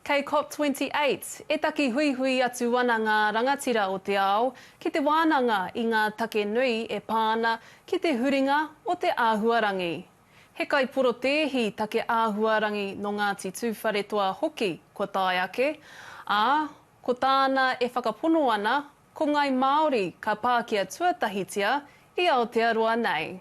Kei COP28, e taki huihui atu ana ngā rangatira o te ao ki te wānanga i ngā take nui e pā ana ki te huringa o te āhuarangi. He kaiporotēhi take āhuarangi nō Ngāti Tūwharetoa hoki kua tae ake, ā, ko tāna e whakapono ana ko Ngai Māori ka pākia tuatahitia i Aotearoa nei.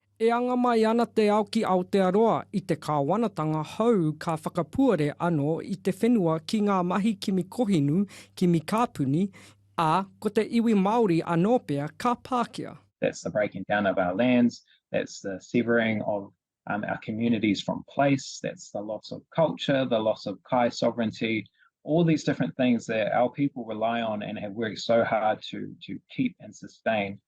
E anga mai ana te ao ki Aotearoa i te kāwanatanga hou ka whakapuare anō i te whenua ki ngā mahi kimi kohinu, kimi kāpuni, ā, ko te iwi Māori anō pea ka pākia. That's the breaking down of our lands, that's the severing of our communities from place, that's the loss of culture, the loss of kai sovereignty, all these different things that our people rely on and have worked so hard to keep and sustain.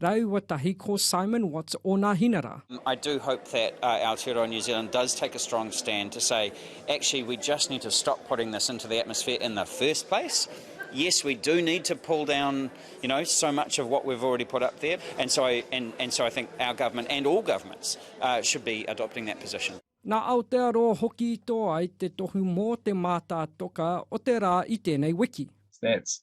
Raua tahi ko Simon Watts ona hinara. I do hope that Aotearoa New Zealand does take a strong stand to say actually we just need to stop putting this into the atmosphere in the first place. Yes we do need to pull down you know so much of what we've already put up there and so I and and so I think our government and all governments uh, should be adopting that position. Nā Aotearoa hoki i tō ai te tohu mō te mātātoka o te rā i tēnei wiki. That's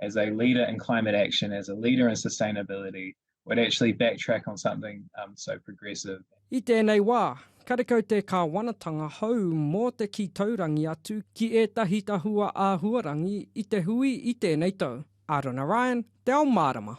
as a leader in climate action, as a leader in sustainability, would actually backtrack on something um, so progressive. I tēnei wā, karekau te kāwanatanga hou mō te kī taurangi atu ki ētahi tahua āhuarangi i te hui i tēnei tau. Arona Ryan, Te Ao Mārama.